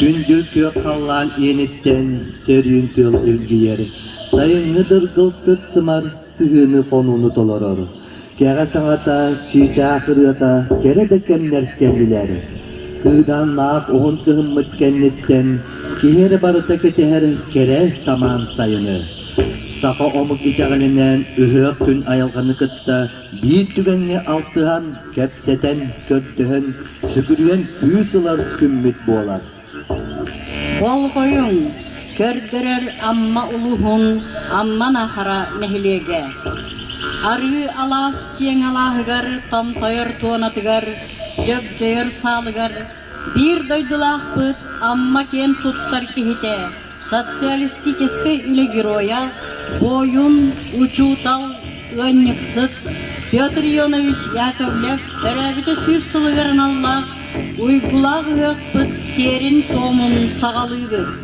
Күндү күөх халлаан иэниттэн сөрүүн тыл илгийэр, сайыҥҥы дыргыл сыт-сымар сыһыаны хонууну толорор. Кэҕэ саҥата, чыычаах ырыата кэрэ да кэмнэр кэллилэр. Кыыдааннаах уһун кыһыммыт кэнниттэн киһи эрэ барыта кэтэһэр кэрэ самаан сайыны. Саха омук итэҕэлинэн ыһыах күн айылҕаны кытта биир түгэҥҥэ алтыһан, кэпсэтэн, көрдөһөн, сүгүрүйэн кыыс ылар күммүт буолар. Болҕойуҥ, көрдөрөр Амма улууһун Амма Нахара нэһилиэгэ. Арыы алаас киэҥ алааһыгар, томтойор туонатыгар, дьөгдьойор саалыгар Биир дойдулаахпыт Амма киэн туттар киһитэ, социалистическай үлэ геройа, буойун, учуутал, ыанньыксыт Петр Ионович Яковлев төрөөбүтэ сүүс сылыгар аналлаах уйгулаах ыһыахпыт сиэрин-туомун саҕалыыбыт.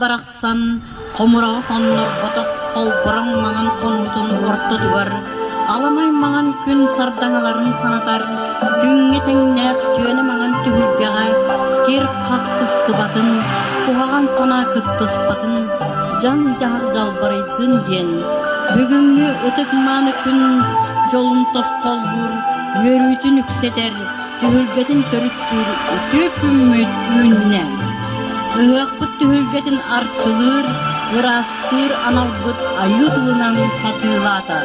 барахсан хомураҕа хоннорботох холбороҥ маҥан хонуутун ортотугар аламай маҥан күн сардаҥаларын санатар күҥҥэ тэҥнээх түөнэ маҥан түһүлгэҕэ кир хах сыстыбатын куһаҕан санаа кыттыспатын дьаҥ дьаһах дьалбарыйдын диэн бүгүҥҥү ытык мааны күн дьолун тосхоллуур үөрүүтүн үксэтэр түһүлгэтин төрүттүүр үтүө күммүт үүннэ. Ыһыахпыт түһүлгэтин арчылыыр, ыраастыыр аналбыт айыы тылынан сатыылаата.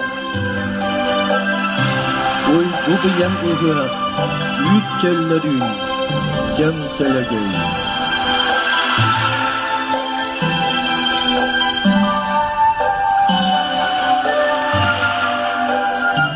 Уйгу быйаҥ ыһыах үүт чөллөрүүн сен сөлөгөй.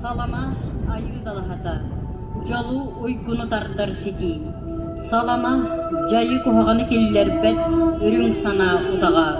Салама айыы далаһата, дьолу уйгуну тардар ситии. Салама дьайы куһаҕаны киллэрбэт үрүҥ санаа утаҕа.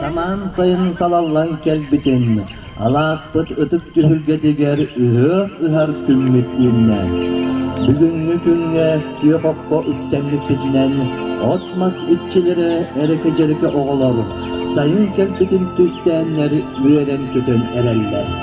Самаан сайын салаллан кэлбитин алааспыт ытык түһүлгэтигэр ыһыах ыһар күммүт үүннэ. Бүгүҥҥү күҥҥэ күөх окко үктэммиппитинэн от-мас иччилэрэ эрэкэ-дьэрэкэ оҕолор сайын кэлбитин түстээннэр үөрэн-көтөн эрэллэр.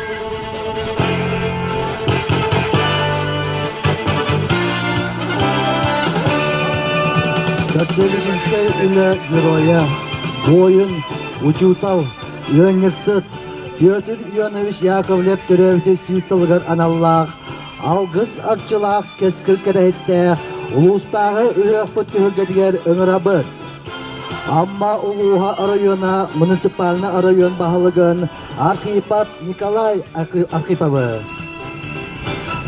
Төрдүлүгүнчэй үлэ геройа, буойун, учуутал, ыанньыксыт Петр Ионович Яковлев төрөөбүтэ сүүс сылыгар аналлаах алгыс арчылаах кэскил кэрэһиттээх улуустааҕы ыһыахпыт түһүлгэтигэр ыҥырабыт. Амма улууһа оройуона муниципальнай оройуон баһылыгын Архипад Николай Архиповы,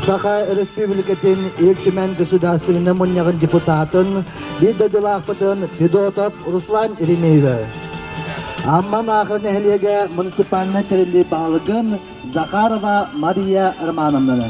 Саха Өрөспүүбүлүкэтин Ил Түмэн государственнай мунньаҕын депутатын, биир дойдулаахпытын Федотов Руслан Еремеевы, Амман Аахы нэһилиэгэ муниципальнай тэриллии баһылыгын Захарова Мария Романовнаны,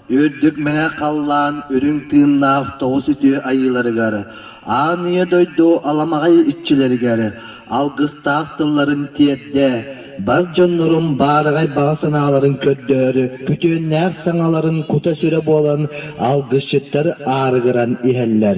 Үрдүк мэҥэ халлаан үрүҥ тыыннаах тоҕус үтүө айыыларыгар, аан үйэ дойду аламаҕай иччилэригэр алгыстаах тылларын тиэрдэ, бар дьоннорун баараҕай баҕа санааларын көрдөһөр күтүөннээх саҥаларын кута-сүрэ буолан алгысчыттар аарыгыран иһэллэр.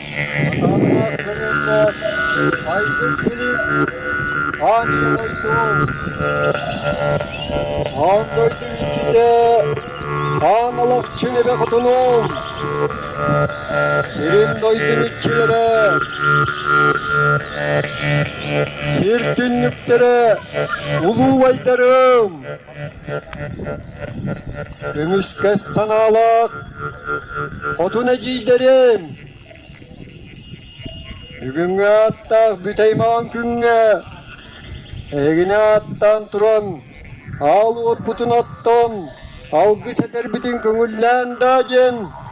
Амма кылыымбар айгыр силин анна дойду аан дойдум иччитэ аан алахчы лэбэ хотунум сирим дойдум иччилэрэ сир түннүктэрэ улуубайдарым Көмүскэс санаалаах хотун эдьиийдэрим бүгүҥҥү ааттаах бүтэймаҕан күҥҥэ эһигини ааттаан туран аал уоппутун оттон алгыс этэрбитин көҥүллээн даа диэн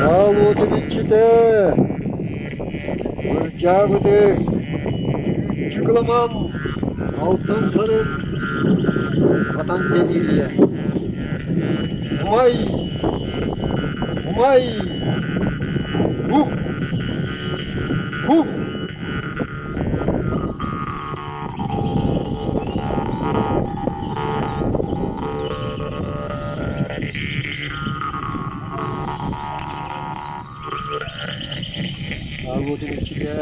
Хаал уотун иччитэ! Кырдьаабытыҥ, Дьыгыламам, алтан сарын хатан кэбириэ. Умай! Умай! Бук! Бук! Ааҕыытын иччитэ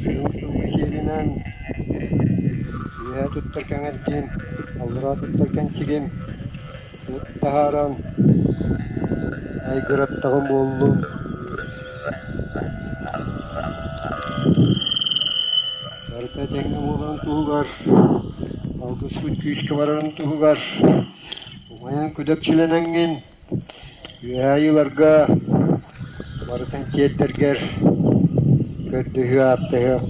Уһук сылгы сиэлинэн Үөһээ туттар кэҥэргим, Аллараа туттар кэнсигим Сыт таһааран айгыраттаҕым буоллун барыта этэҥҥэ буоларын туһугар алгыспыт күүскэ барарын туһугар умайан күдэпчилэнэҥҥин үөһээ ыйыларга Барытын тиэрдэргэр көрдөһүү ааттаһыам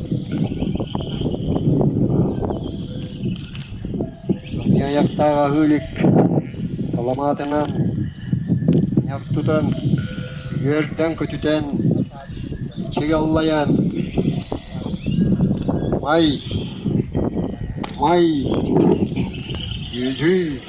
Мин айахтаах аһыы илик саламаатынан ньах тутан, үөрдэн-көтүтэн, чэй аллайан «Май! Май!» – дьүдьүй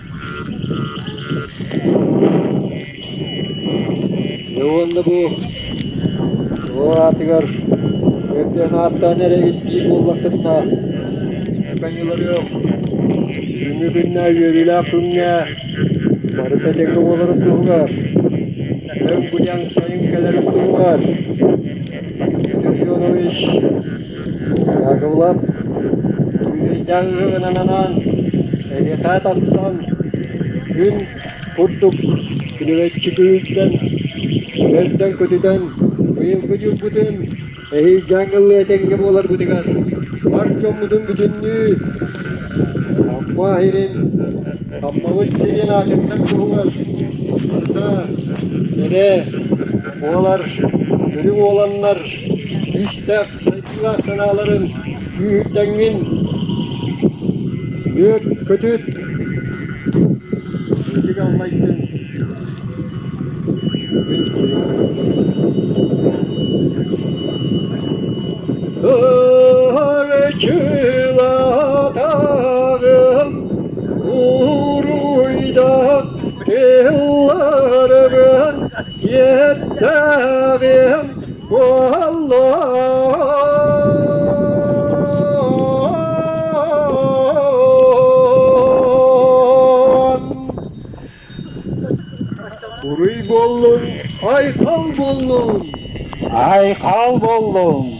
Дьэ уонна бу уол аатыгар өйдөөн ааттаан эрэйгит дии буоллаххытына Каниларыах бүгүҥҥү күҥҥэ үөрүүлээх күҥҥэ барыта тэҥҥэ буоларын туһугар өҥ-гуняҥ сайын кэлэрин туһугар Степенович Яковлев күлүөйдээҥҥэ гынан анаан эһиэхэ тахсан күн курдук күлүмэччи күһүйтэн, көртөн-көтүтэн быйылгы дьылбытын эһиилгэн ылыа этэҥҥэ буоларбытыгар бар дьоммутун бүтүннүү Амма иһирин Аммабыт сирин аатыттан куһугар барыта кэрэ буолар, үрүҥ уоланнар Истэх сайдыылаах санааларын күүһүрдэҥҥин үөт көтүт, ичиги аллайдын мин сирэйим Ырчылатаҕым уруйдах тылларгын Иэрдээх иһим буоллун. Буруй буоллун, айтал буоллун. Айхал буоллун.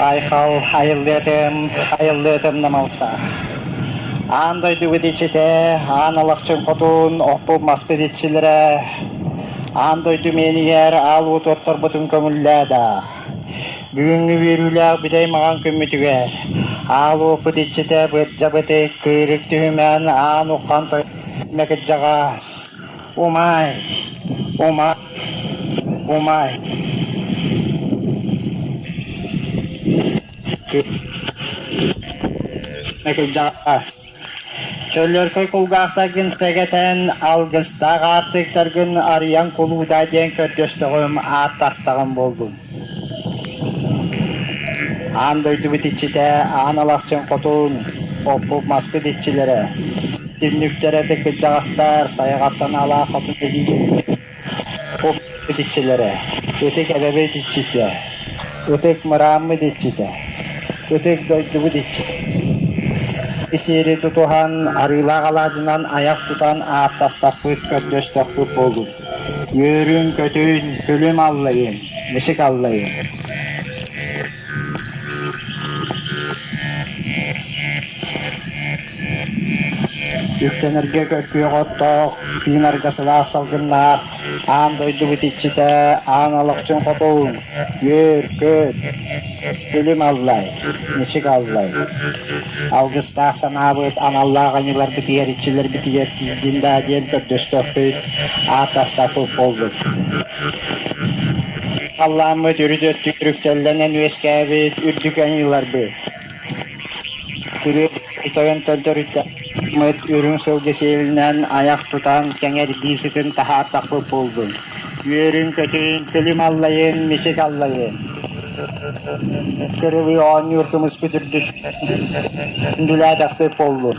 Айхал айыллыатым, айыллыатым намалса. Аан дойдубут иччитэ, аан алахчын хотун, оппуп маспыт иччилэрэ, аан дойду миэнигэр аал уот отторбутун көҥүллээда. Бүгүҥҥү үөрүүлээх бүтэй маҥан күммүтүгэр аал уопут иччитэ Бырдьабыты Кыырык түһүмээн аан ухан тойонно кырдьаҕас «Умай! Умай! Умай!» Мекылдьаас Чөллөркөй кулгаахтаргын сэгэтэн, алгыстаах аартыктаргын арыйан кулуудаа диэн көрдөстөҕүм, ааттастаҕым буоллун Аан дойдубут иччитэ, аан алахчын хотун, оппут маспыт иччилэрэ, түннүктэрэ тыккыдьаҕастар, сайҕас санаалаах хотун илии Ытык итиччилэрэ, ытык эбэбит иччитэ, ытык мырааммыт иччитэ, ытык дойдубут иччитэ Исиэри тутуһан, арыылаах алаадьынан айах тутан ааттастахпыт, көрдөстөхпүт буоллун. Үөрүн, көтүн, күлүм аллайын, мичик аллайын! Үктэнэргэ көккүөх оттоох, тыынарга сылаас салгыннаах, аан дойду битиччитэ, аан алахчын хотуҥ, үөр, көт, күлүм аллай, мичик аллай. Алгыстаах санаабыт аналлаах аньыларбытыгар иччилэрбитигэр тиийдин да диэн көрдөстөхпүт, ааттастаппыт буолбут. Халлааммыт үрүт өттүк түрүктэллэнэн үөскээбит үрдүк аньыыларбыт, күрүө тойон төрдөрүммүт үрүҥ сылгы сиэлинэн айах тутан сэҥэрдии сытын таһаартахпыт буоллун. Үөрүн-көтүн, күлүм аллайын, мисик аллайын. Кырылыы оонньуур кымыспыт үрдүттэн дүлээтэхпит буоллун.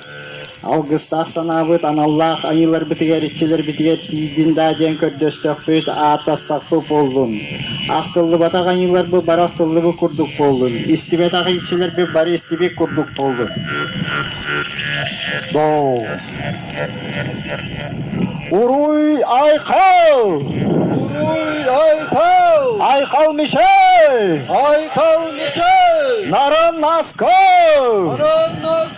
Алгыстаах санаабыт аналлаах айыыларбытыгар, иччилэрбитигэр тиийдин даа диэн көрдөстөхпүт, ааттастахпыт буоллун. Ахтыллыбатах айыыларбыт бары ахтыллыбыт курдук буоллун. Истибэтэх иччилэрбит бары истибит курдук буоллун. Доо. Уруй Айхал! Уруй Айхал! Айхал Мишель! Айхал Мишель! Наран Насков! Наран Насков!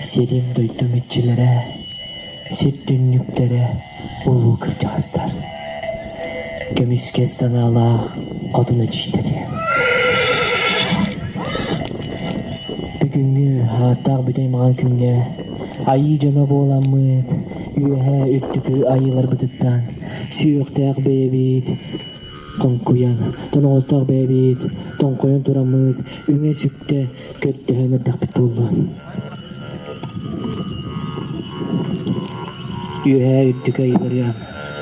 Сирин-дойду мүччүлэрэ, сир түннүктэрэ улуу кырдьаҕастар. Көмүскэл санаалаах хотун эдьиийдэрэ. Бүгүҥҥү ааттаах бүтэй маҥан күҥҥэ айыы дьоно буоламмыт, үөһээ үрдүкү айыыларбытыттан сүһүөхтээх бэйэбит хоҥкуйан, тоноҕостоох бэйэбит тоҥхойон тураммыт үҥэ-сүктэ Көрдөһөн эрдэхпит буолла үөһээ үрдүкү айыыларыгар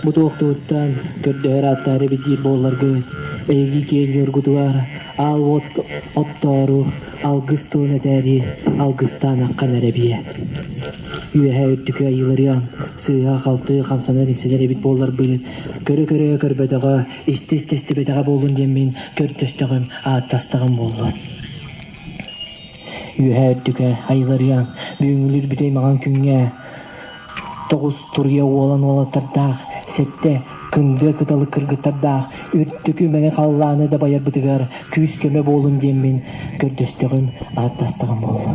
бу туохтугуттан көрдөһөр ааттаах эбит диир буолларгын эһиги киэҥ-ньургутугар аал уот оттоору алгыс тылын этээри алгыстаанаххын эрэ биэ үөһээ үрдүкү айыыларыгар сыыһа-халты хамсанар-имсэнэр эбит буолларбын көрө-көрө көрбөтөҕө истиэстибэдэҕэ буоллун диэн мин көрдөстөҕүм, ааттастаҕым буолла. Үөһээ Үрдүкэ, Айыларыан, бүгүҥҥүлүүр бүтэй маҥан күҥҥэ тоҕус туруйа уолан уолаттардаах, сэттэ кындыа кыталы кыргыттардаах үрдүкү мэҥэ халлааны дабайарбытыгар күүс-көмө буолун диэн мин көрдөстөҕүм, ааттастаҕым буолла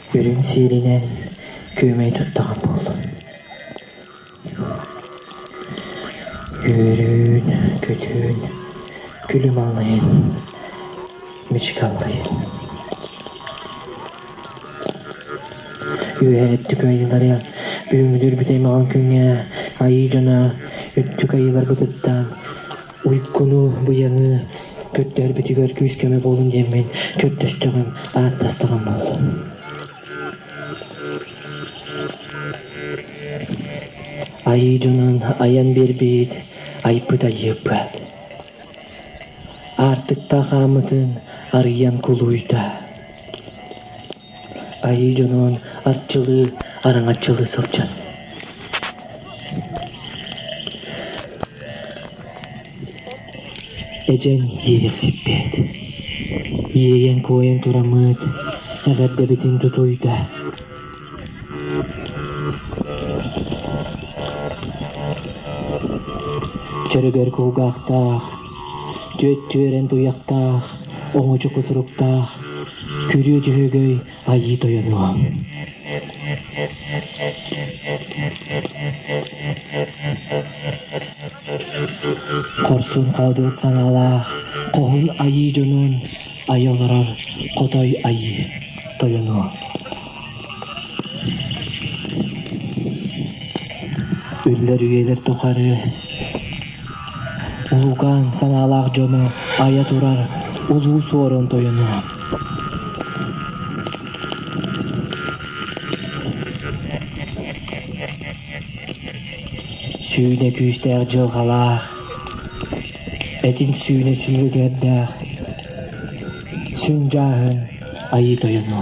Үрүҥ сиэринэн күөмэйи туттаҕа буолуо. Үөрүүн, көтүүн, күлүм алайын, мичик алайын. Үөһэ өттүк айыыларыгар бүгүҥҥүтүр бүтэй маҕан күҥҥэ айыы дьоно өттүк айыыларбытыттан Уйгуну, Быйаҥы көрдөрбүтүгэр күүс-көмө буолуҥ диэммин көрдөстөҕүм, ааттастаҕым буолла Айыы дьонун айан биэрбит, айбыт айыыппат. Аартыктаах аамытын арыйан кулуйда. Айыы дьонун арчылыы, араҥаччылыы сылдьан эдьэн иэйэр сиппэт, иэйэн куойан тураммыт эҕэрдэбитин тутуйда. Чөрөгөр кулгаахтаах Түөрт түөрэн туйахтаах, оҥочо кутуруктаах, күрүө дьөһөгөй айыы тойонуо Хорсун хаудуот саҥалаах, хоһун айыы дьонун айа олорор хотой айыы тойонуо Үллэр үйэлэр тухары Улуукаан санаалаах дьоно айа турар Улуу Суорун Тойоно Сүүнэ күүстээх дьылҕалаах Этин сүүнэ сүлүгэрдээх Сүҥ дьааһын айыы тойоно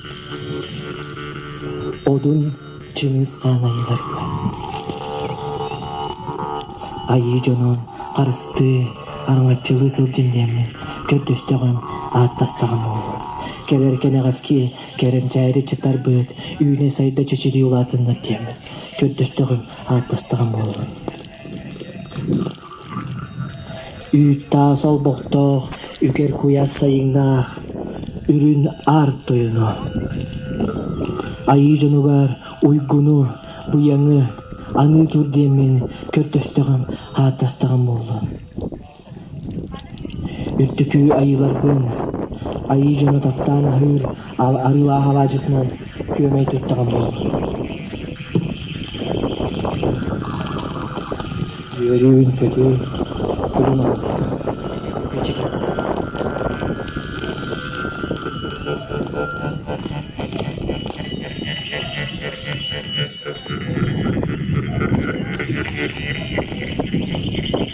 Одун Чыҥыс хаалайыларга Айыы дьонун харыстыы, араҥаччылыы сылдьын диэммин көрдөстөҕүм, ааттастаҕым буолуо. Кэлэр кэнэҕэски кэрэмчээри чытарбыт, үүнэ-сайда чичирии улаатыннар диэммин көрдөстөҕүм, ааттастаҕым буолуо Үүт-таас олбохтоох, үгэр куйаас сайыҥнаах, үрүн аар тойоно. Айыы дьонугар уйгуну, быйаҥы аныы тур диэммин көрдөстөҕүм, ааттастаҕым буолла Үрдүкү Айыыларбын Айыы дьону таптаан аһыыр Арыылаах алаадьытынан Күөмэй туттаҕым буолла Үөрүүн-көтүүн Күлүм олордо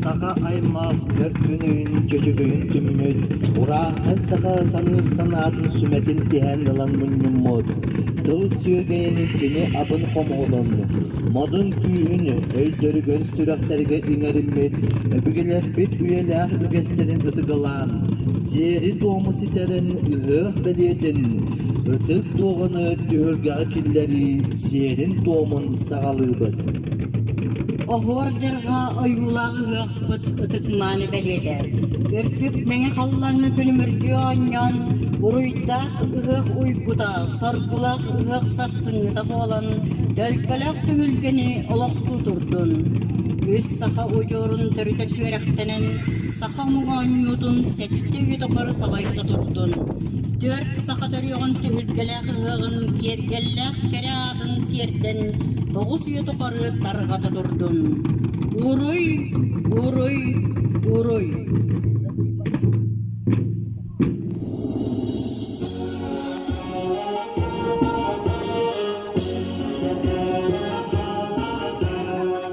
Саха аймах өр күн өйүн-чөчүкөйүн түммүт, урааҥхай саха саныыр-санаатын сүмэтин тиһээн ылан мунньуммут, тыл сүөгэйин кини атын хомоҕолун, модун-күүһүн өйдөрүгэр-сүрэхтэригэр иҥэриммит, өбүгэлэрбит үйэлээх үгэстэрин ытыгылаан, сиэри-туому ситэрэн ыһыах-бэлиэтин, ытык дуоһуну түһүлгэҕэ киллэрии сиэрин-туомун саҕалыыбыт. Оһуор дьарҕаа ойуулаах ыһыахпыт ытык-мааны бэлиэтэ. Үрдүк мэҥэ халлаҥҥа күлүмүрдүү оонньоон, буруйдаах ыһыах уйгута, соргулаах ыһыах сарсыҥҥыта буолан, төлкөлөөх түмүлгэни олохтуу турдун. Үс саха удьуорун төрүтэ түөрэхтэнэн, саха омук оонньуутун сэттэ үйэ тухары салайса турдун. Түөрт саха төрүөҕүн түһүлгэлээх кыһыаҕын киэргэллээх кэрэ аатын тиэрдэн боҕус үйэ тухары тарҕата турдун. Уруй, уруй, уруй.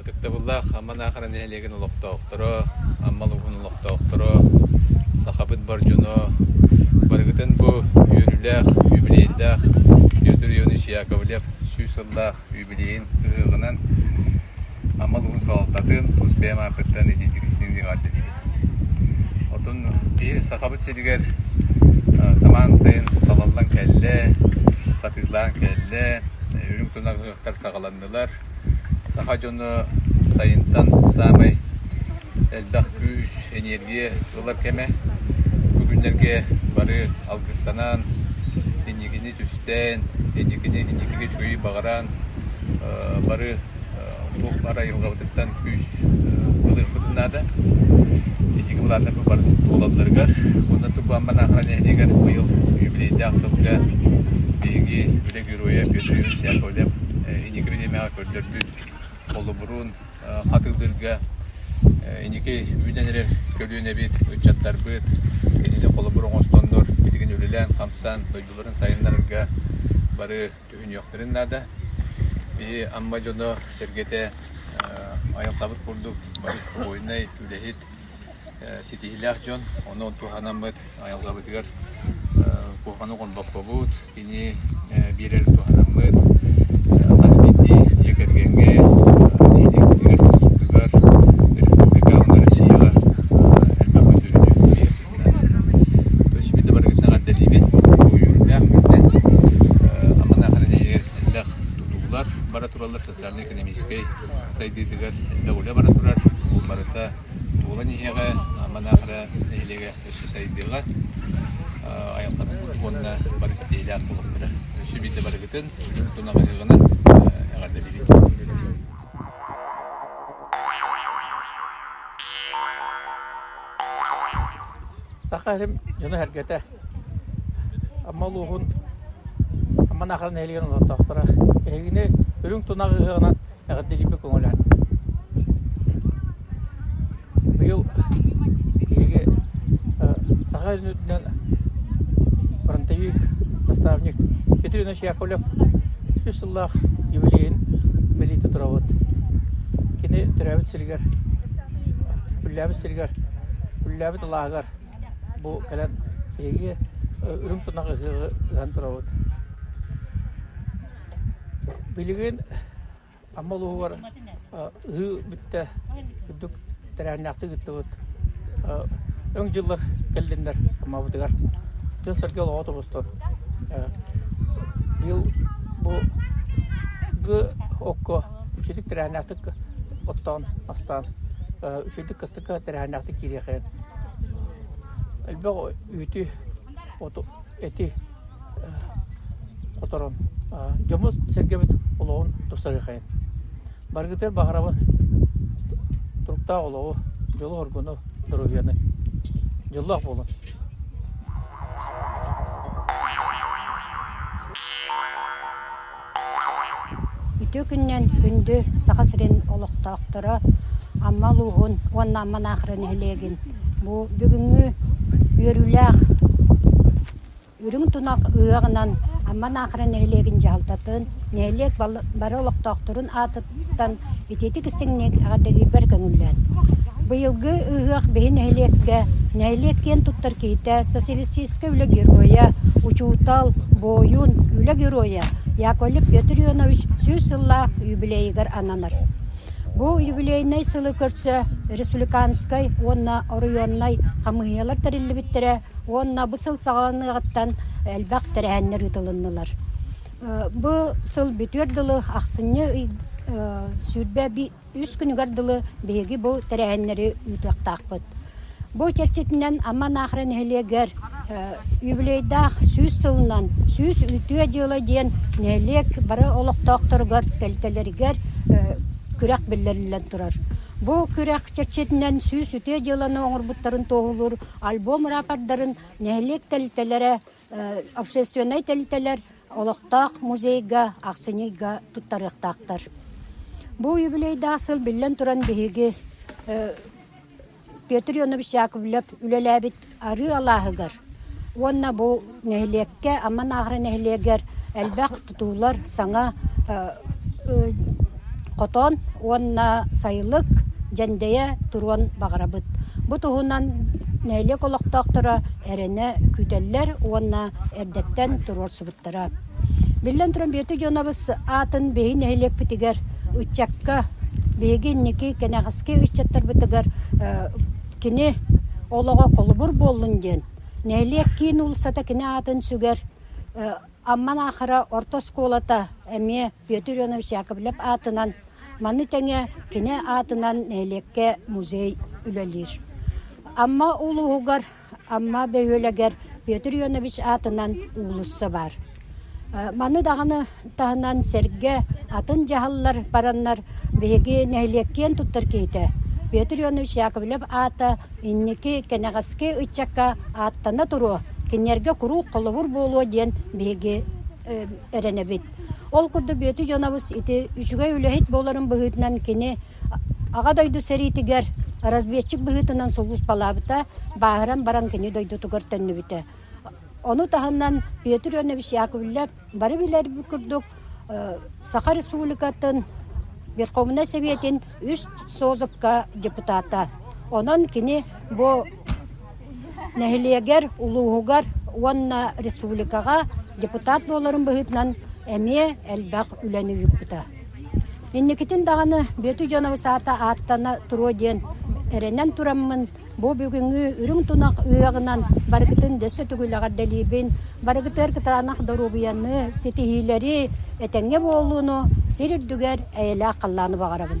Ытыктабыллаах Аман Аахара нэһилиэгин олохтоохторо, Амма улууһун олохтоохторо, сахабыт бар дьоно, барыгытын бу үөрүүлээх, юбилейдаах Юзер Ионыч Яковлев сүүс сыллаах Билигин ыһыаҕынан Амма улууһун салалтатын тус бэйэм аапыттан итиитик истиҥ диэҕэрдэтибит. Отун киһи Сахабыт сиригэр самаан сайын талаллан кэллэ, сатыылаан кэллэ, үрүҥ тунах ыһыахтар саҕаланнылар. Саха дьоно сайынтан саамай элбэх күүс, энергия ылар кэмэ. Бу күннэргэ бары алгыстанан, инникини түстээн, итикини итикигэ үчүгэй баҕараан бары туох бар айылҕабытыттан күүс ылыахпытын наада. Итики былааннар бары буолалларыгар. Онно Тукбамба Наахара нэһилиэгэр быйыл юбилейдаах сылга биһиги үлэ геройа Петр Яковлев иникири нэмэҕэ көрдөрбүт холобурун хатылыырга инники үүнэн эрэр көлүөнэбит, ыччаттарбыт кинини холобур оҥостоннор билигин үлэлээн-хамсаан дойдуларын сайыннарарга бары түһүнүөхтэрин наада. Биһи Амма дьоно сэргэтэ айылҕабыт курдук бары спокойнай, үлэһит, ситиһиилээх дьон. Ону туһанаммыт айылҕабытыгар куһаҕаны оҥорбоккобут. Кини биэрэр туһанаммыт хас биирдии дьиэ кэргэҥҥэ, нэһилиэгитигэр, улууспутугар, республикаҕа, Россияҕа элбэх бүддьүөтү биэрэринэн. То есть биир да барыгытын эҕэрдэлиибин бу үөрүүлээх күнтэн. Аман Аханан эһигэр элбэх тутуулар бара тураллар социально-экономическай сайдыытыгар үлэ баран турар. Бу барыта буолан иһиэҕэ, манаахара нэһилиэгэ өссө сайдыаҕа, айылҕатын курдук уонна бары ситиһиилээх буолаллара. Өссө биирдэ барыгытын тунаҕаныгынан эҕэрдэлиибит. Саха дьоно сэргэтэ Амма улууһун Амма Наахара нэһилиэгин олохтоохторо эһигини үрүҥ тунах ыһыаҕынан эҕэрдэлиирбит көҥүлээн. Быйыл биһиги саха үрдүнэн фронтовик, наставник Петр Иванович Яковлев сүүс сыллаах юбилейын бэлии туттарабыт. Кини төрөөбүт сиригэр, үллээбит сиригэр, үллээбит алааһыгар бу кэлэн биһиги үрүҥ тунах ыһыаҕы ыһан турабыт. Билигин Амма улууһугар ыһыы бүттэ үрдүк тэрээһиннээхтик ыыттыбыт. Өҥ дьыллар кэллиннэр Аммабытыгар. Дьон-сэргэ олоҕо тобустор. Быйыл бу ГОККО үчүгдүк тэрээһиннээхтик оттоон, астаан, үчүгдүк тэрээһиннээхтик киириэхэ элбэх үүтү оту эти хоторон дьоммут-сэргэбит олоҕун тупсарыахайын барыгытыгар баҕарабын туруктаах олоҕу дьолу-хоргуну доруобуйаны дьоллоох буолун Үтүө күнүнэн күндү Саха сирин олохтоохторо Амма улууһун уонна Амма Наахара нэһилиэгин бу бүгүҥҥү үөрүүлээх Үрүҥ тунах ыһыаҕынан Амма Наахара нэһилиэгин дьаһалтатын, нэһилиэк бары олохтоохторун аатын итиитик истиҥник эҕэрдэлиирбэр көҥүллээн. Быйылгы ыһыах биһи нэһилиэккэ, нэһилиэк киэн туттар киһитэ, социалистическай үлэ геройа, учуутал, буойун, үлэ геройа Яковлев Петр Ионович сүүс сыллаах юбилейыгар ананар. Бу юбилейнай сылы көрсө республиканскай уонна оройуоннай хамыыһыйалар тэриллибиттэрэ уонна бу сыл саҕаланыаҕыттан элбэх тэрээһиннэр ыытылыннылар. Бу сыл бүтүөр дылы ахсынньы сүүрбэ үс күнүгэр дылы биһиги бу тэрээһиннэри ыытыахтаахпыт. Бу чэрчитинэн Амма Наахара нэһилиэгэр юбилейдаах сүүс сылынан сүүс үтүө дьыала диэн нэһилиэк бары олохтоохторугар тэлитэлэригэр күрэх биллэриллэн турар. Бу күрэх чэрчитинэн сүүс үтүө дьыаланы оҥорбуттарын туоһулуур альбом ырапардарын нэһилиэк тэлитэлэрэ общественнай тэрилтэлэр олохтоох музейга ахсынньыга туттарыахтаахтар. Бу юбилейдаах сыл биллэн туран биһиги Петр Ионович Яковлев үлэлээбит арыы алааһыгар уонна бу нэһилиэккэ Амма Нааҕара нэһилиэгэр элбэх тутуулар саҥа хотон уонна сайылык дьэндэйэ туруон баҕарабыт. Бу туһунан нэһилиэк олохтоохторо эрэнэ күүтэллэр уонна эрдэттэн туруорсубуттара. Биллэн туран, Бүөтү Дьонобус аатын биһи нэһилиэкпитигэр ыччакка биһиги инники кэнэҕэски ыччаттарбытыгар кини олоҕо холобур буоллун диэн нэһилиэк киин уулуссата кини аатын сүгэр Амман Аахара орто оскуолата эмиэ Петр Иванович Яковлев аатынан, маны тэҥэ кини аатынан нэһилиэккэ музей үлэлиир. Амма улууһугар Амма бөһүөлэгэр Петр Иванович аатынан уулусса баар. Маны даҕаны таһынан сэргэ атын дьаһаллар бараннар биһиги нэһилиэк киэн туттар киһитэ Петр Иванович Яковлев аата Инники кэнэҕэски ыччакка ааттана туруо, кинилэргэ куруук холобур буолуо диэн биһиги эрэнэбит. Ол курдук Бүөтү дьонобус ити үчүгэй үлэһит буоларын быһыытынан кини Аҕа дойду сэриитигэр разведчик быһыытынан сулууспалаабыта, бааһыран баран кини дойдутугар төннүбүтэ. Ону таһынан Петр Ионович Яковлев Бары билэрбит курдук, Саха Республикатын Верховнай Сэбиэтин үс Созывка депутата. Онон кини бу нэһилиэгэр, улууһугар уонна республикаҕа депутат буоларын быһыытынан эмиэ элбэх үлэни ыыппыта. Инникитин даҕаны Бүөтү дьоно саата ааттана туруо диэн эрэнэн тураммын Бу бүгүҥҥү үрүҥ тунах ыаҕынан барыгытын дөссө түгүлэҕэрдэлиибин, барыгытыгар кытаанах доруобуйаны, ситиһиилэри, этэҥҥэ буолууну сир үрдүгэр эйэлээх халлааны баҕарабын.